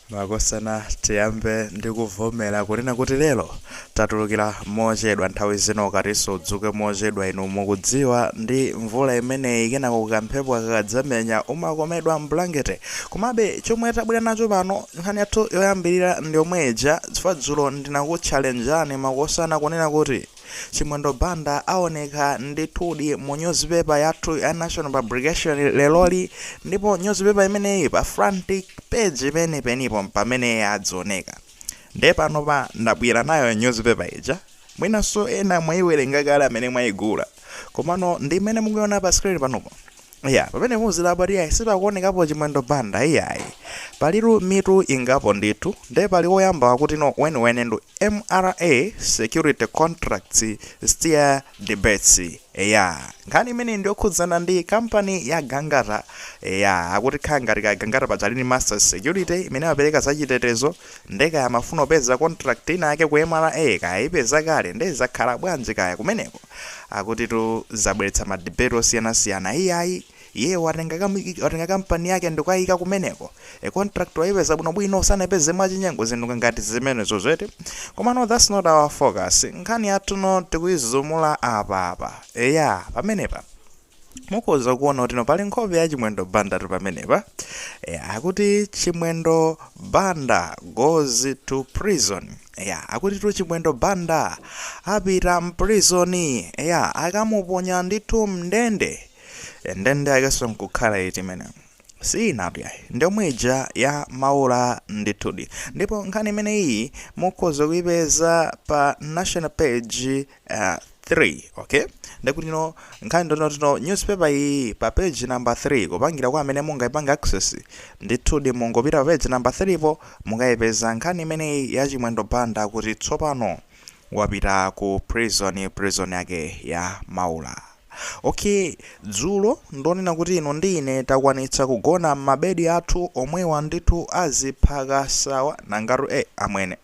Makosana tiyambe ndi kuvomera kunena kuti lero tatulukira mochedwa, nthawi zina ukati udzuke mochedwa inu mukudziwa ndi mvula imeneyi kenako kamphepo kakadzamenya umakomedwa mblanket komabe chomwe tabwera nacho pano nkhani yathu yoyambirira ndiyomwe ija chifukwa dzulo ndinakutchalenjani makosana kunena kuti Chimwendo Banda aoneka ndithudi mu nyuzipepa yathu ya National Publication leroli ndipo nyuzipepa imeneyi pa front page penipenipo mpamene adzaoneka. Ndiye panopa ndabwera nayo nyuzipepa ija. Mwinanso ena mwaiwerenga kale amene mwaigula. Komano ndi imene mukuiona pa screen panopo. Yeah, pamene muzidabwa kuti iyayi sipakuonekapo chimwendo banda iyayi palitu mitu ingapo ndithu nde pali woyamba wakutino weniweni ndi mra security contracts stir debates eya nkhani imeneyi ndiyokhudzana ndi kampani ya gangata eya akuti khala ngati ka gangata paja ali ndi masters security imene amapereka zachitetezo Nde kaya amafuna kupeza contract ina yake ku mra kaya ayipeza kale nde zakhala bwanji kaya kumeneko akutitu zabweretsa ma debate osiyana siyana iyayi iyeyo watenga ka watenga company yake ndikukayika kumeneko e contract wayipeza bwino bwino sanayipeze mwachinyengo zinthu ngati zimenezozo eti komano that's not our focus nkhani yathu ino tikuyizumula apa apa eya pamenepa mukhoza kuona kutino pali nkhope ya chimwendo bandatu pamenepa e, akuti chimwendo banda goes to prison ya akutitu chimwendo banda apita mprizoni ya akamuponya ndithu mndende E, ndende yakenso nkukhala iti imene siinatu yayi ndiyomwe ija ya maula ndithudi ndipo nkhani imeneyi mukhoza kuipeza pa national page uh, 3 okay ndekutino nkhani ndonena kutino newspaper iyi pa page number 3 kupangira kwa amene mungaipange access ndithudi mungopita pa page number 3 po mukayipeza nkhani imeneyi ya chimwendo banda kuti tsopano wapita ku prison prison yake ya maula okay dzulo ndonena kuti inu ndi ine takwanitsa kugona m'mabedi athu omwewa ndithu aziphaka awa nangatu e eh, amwene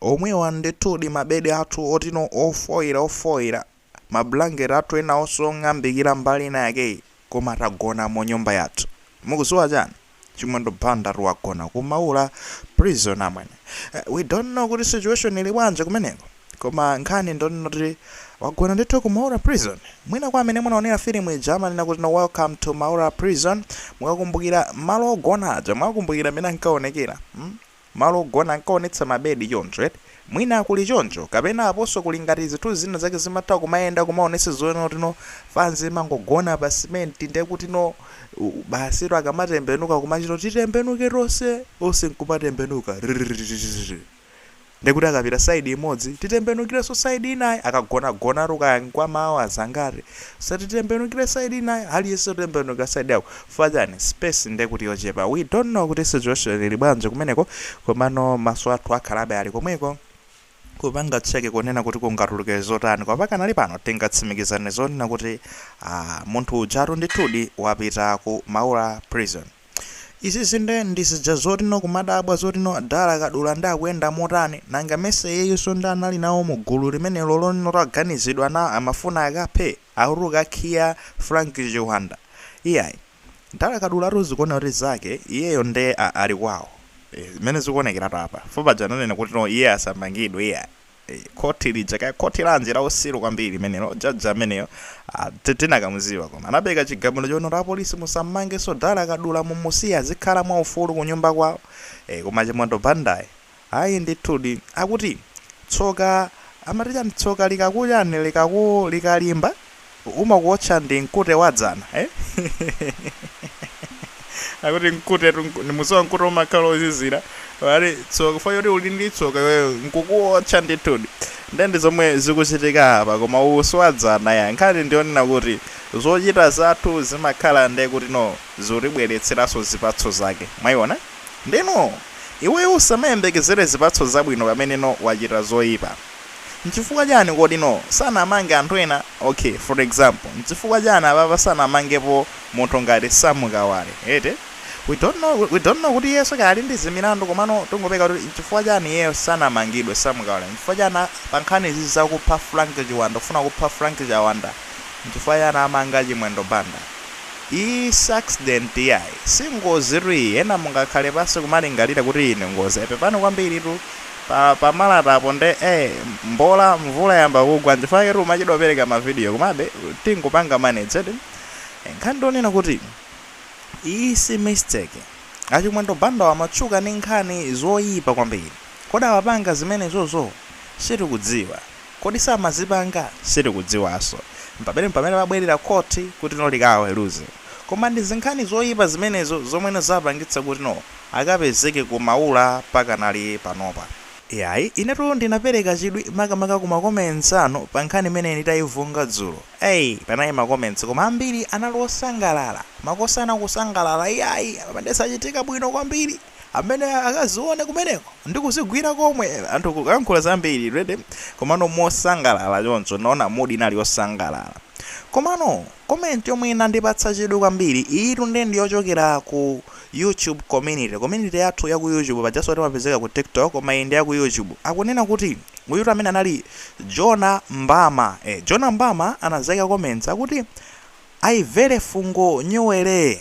Omwewa ndithudi mabedi athu otino ofoira ofoira, ma blanket athu enawonso ong'ambikira mbali ina yakeyi, koma tagona mu nyumba yathu. Mukudziwa chani? Chimwendo Bandatu wagona ku Maula prison amwene. We don't know kuti situation ili bwanji kumeneko, koma nkhani ndonena kuti wagona ndithu ku Maura prison. Mwina kwa amene munaonera filimu ija amanena kutino Welcome to Maura prison, mukakumbukira malo ogona aja, mwakumbukira mmene ankaonekera? Hmm? malo ogona ankaonetsa ma bed choncho, mwina kuli choncho kapena aponso kuli ngati zinthu zina zake zimatha kumayenda kumaonetsa zonena kuti no fanzi imangogona pa cement nde kuti no basitu akamatembenuka kumachito titembenuke tonse onse nkumatembenuka rrrrrrrrrr ndekuti akapita side imodzi titembenukirenso side inayi akagona gonatu kankwa ma hours angati osati titembenukire side inayi aliyense kutembenuka side yako Fanzi, space nde kuti yochepa. We don't know kuti situation ili bwanji kumeneko komano maso athu akhalabe ali komweko kupanga check kunena kuti kungatuluke zotani koma pakanali pano tingatsimikizane zonena kuti ah, munthu ujatu ndithudi wapita ku Maula prison. Izizi nde ndi zija zoti no kumadabwa zoti no Dala Kadula nde akuyenda motani, nanga mesa iyeyonso nde anali nawo mu gulu limenelo loti no taganizidwa naye amafuna akaphe? akutukana khiya Frank Chiwanda iyayi Dala Kadula tu zikuoneka kuti zake iyeyo nde ali kwawo ee mmene zikuonekeratu apa chifukwa paja ananena kuti no iye asamangidwe iyayi ee khothi lija kaya khothi lanji lausiru kwambiri limenelo judge ameneyo aa tinakamudziwa koma anapereka chigamulo chonena kuti a police musammangenso dala kadula mumusiye azikhala mwaufulu kunyumba kwawo ee koma chimwendo bandayi Ayi ndithudi. Akuti, Tsoka, amati chani, tsoka likaku chani, likalimba, umakuotcha ndi mkute wa dzana, eh? Akuti mkutetu, mku- ndimudziwa mkute umakhala wozizira. Koma tsoka, chifukwa choti uli ndi tsoka iweyo, nkukuotcha ndithudi. Nde ndi zomwe zikuchitika apa, koma uwu si wa dzana ya. Nkhani ndiyonena kuti, zochita zathu zimakhala nde kuti no, zikutibweretseranso zipatso zake. Mwayiona? Ndeno iweyo usamayembekezere zipatso zabwino pamene no wachita zoipa. Nchifukwa chani kodi no sanamange anthu ena? Ok for example nchifukwa chani apapa sanamangepo munthu ngati Sam Kawale eti? We don't know we don't know kuti iyenso kaya ali ndi zimilandu komano tingopeka kuti nchifukwa chani iyeyo sanamangidwe Sam Kawale? Nchifukwa chani pankhani izi zakupha Frank Chiwanda kufuna kupha Frank Chawanda nchifukwa chani amanga Chimwendo Banda? Iyi si accident yayi singozi tu iyi ena mungakhale pansi kumalingalira kuti iyi ndi ngozi ai pepani kwambiri tu pa malata apo nde eh mbola mvula yayamba kugwa nchifukwa chake tikumachedwa kupereka ma video komabe tingopanga manage eti nkhani ndionena kuti iyi si mistake achimwendo bandawa amatchuka ndi nkhani zoyipa kwambiri kodi amapanga zimenezozo sitikudziwa. Kodi samazipanga? Sitikudziwanso. Mpamene mpamene babwerera khothi kuti no likawaweruze. Koma ndi zinkhani zoipa zimenezo zomwe no zapangitsa kuti no akapezeke ku Maula pakanali panopa. Iyayi, inetu ndinapereka chidwi makamaka ku ma comments anu pa nkhani imeneyi nditaivunga dzulo. Ai, panali ma comments koma ambiri anali osangalala. Makosana kusangalala iyayi, apa nde zachitika bwino kwambiri. amene akazione kumeneko ndi kuzigwira komwe anthu kuyankhula zambiri ready komano mosangalala choncho naona mood inali yosangalala komano comment yomwe inandipatsa chidwi kwambiri iyitu nde ndiyochokera ku YouTube community community yathu ya ku YouTube pajaso timapezeka ku TikTok koma iyi ndi ya ku YouTube akunena kuti uyutu amene anali Jona Mbama eh, Jona Mbama anazaika comments akuti aivere fungo nyuwere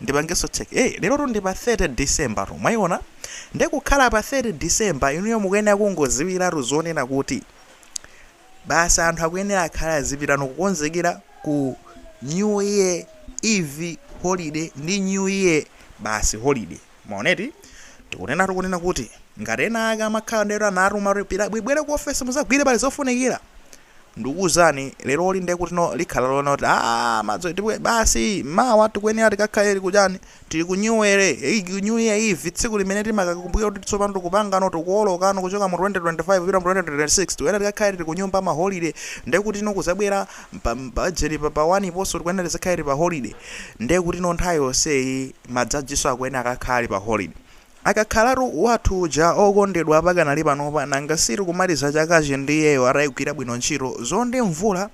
ndipangeso check eh lerotu ndi pa 30 December tu mwaiona nde kukhala pa 30 December inuyo mukuyenera kungoziwiratu zonena kuti basi anthu akuyenera akhala azipitano kukonzekera ku new year eve holiday ndi new year basi holiday mwaona eti tikunena tikunena kuti ngati ena ake amakhala ndero anatu mapira bwibwere ku ofesi muzagwire pali zofunikira Ndikuuzani leroli nde kutino likhala lonoti aah madzulo tipite basi mawa tikuyenera tikakhale tili kuchani tili ku nyuwere ei ku new year eve tsiku limene timakakumbukira kuti tsopano tikupangano tikuwolokano kuchoka mu 2025 kupita mu 2026 tikuyenera tikakhale tili kunyumba ma holiday nde kutino kuzabwera pa bajeti pa pa waniponso tikuyenera tizikhale tili pa holiday nde kutino nthawi yonseyi majajinso akuyenera akakhale ali pa holiday Akakhalatu wathu uja okondedwa pakanali panopa nanga si tikumaliza chakachi ndi iyeyo ataigwira bwino ntchito. Mzonde Mvula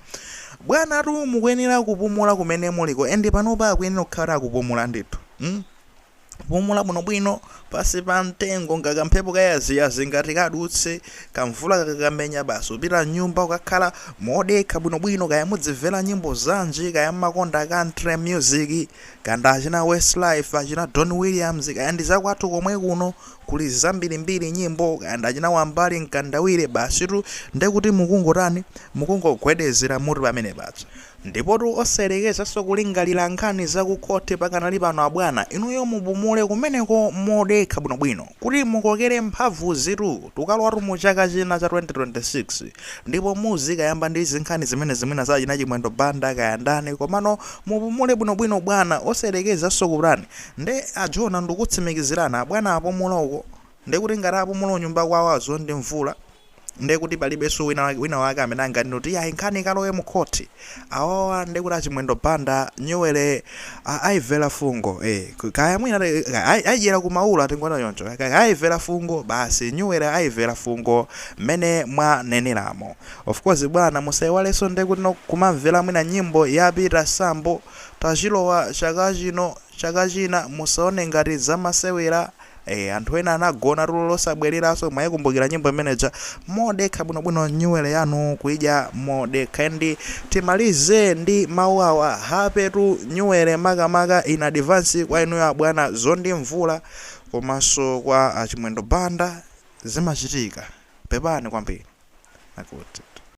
bwanatu mukuyenera kupumula kumene muliko and panopa akuyenera kukhala akupumula ndithu mm kupumula bwinobwino pansi pa mtengo nga kamphepo kayaziyazi ngati kadutse kamvula kakakamenya basi upita mnyumba ukakhala modekha bwinobwino kaya mudzimvera nyimbo zanji kaya mmakonda country music Kaya ndi achina Westlife, achina Don Williams, kaya ndi zakwathu komwe kuno, kuli zambirimbiri nyimbo, kaya ndi achina Wambali Mkandawire, basitu nde kuti mukungotani, mukungogwedezera mutu pamene paja. Ndipotu osayerekezanso kulingalira nkhani za ku khoti pakanali pano abwana, inuyo mupumule kumeneko modekha bwinobwino, kuti mukokere mphamvuzitu, tikalowatu mu chaka china cha 2026, ndipo muzikayamba ndi zinkhani zimenezi mwina za achina Chimwendo Banda kaya ndani, komano Mupumule bwinobwino bwana osayerekezanso ku plan nde a Jona ndikutsimikizirani abwana apumula uko ndekuti ngati apumula kunyumba kwawo a Mzonde Mvula ndekuti palibenso wina wina wake amene anganene kuti iyayi nkhani ikalowe mu court awawa ndekuti a Chimwendo Banda nyuwele a aivela fungo eh kaya mwina ai aidyera ku Maula tingona choncho kaya aivela fungo basi nyuwele aivela fungo mene mwaneneramo Of course bwana musaiwalenso nde kutino kumamvela mwina nyimbo ya Peter Sambo tachilowa chaka chino chaka china musaone ngati zamasewela ee anthu ena anagona tulo losabwelelanso mwaikumbukila nyimbo imene ija modekha bwino bwino nyuwele yanu kuidya modekha and timalize ndi mau awa happy tu nyuwele makamaka in advance kwa inuyo abwana Mzonde Mvula komanso kwa achimwendo banda zimachitika pepani kwambiri.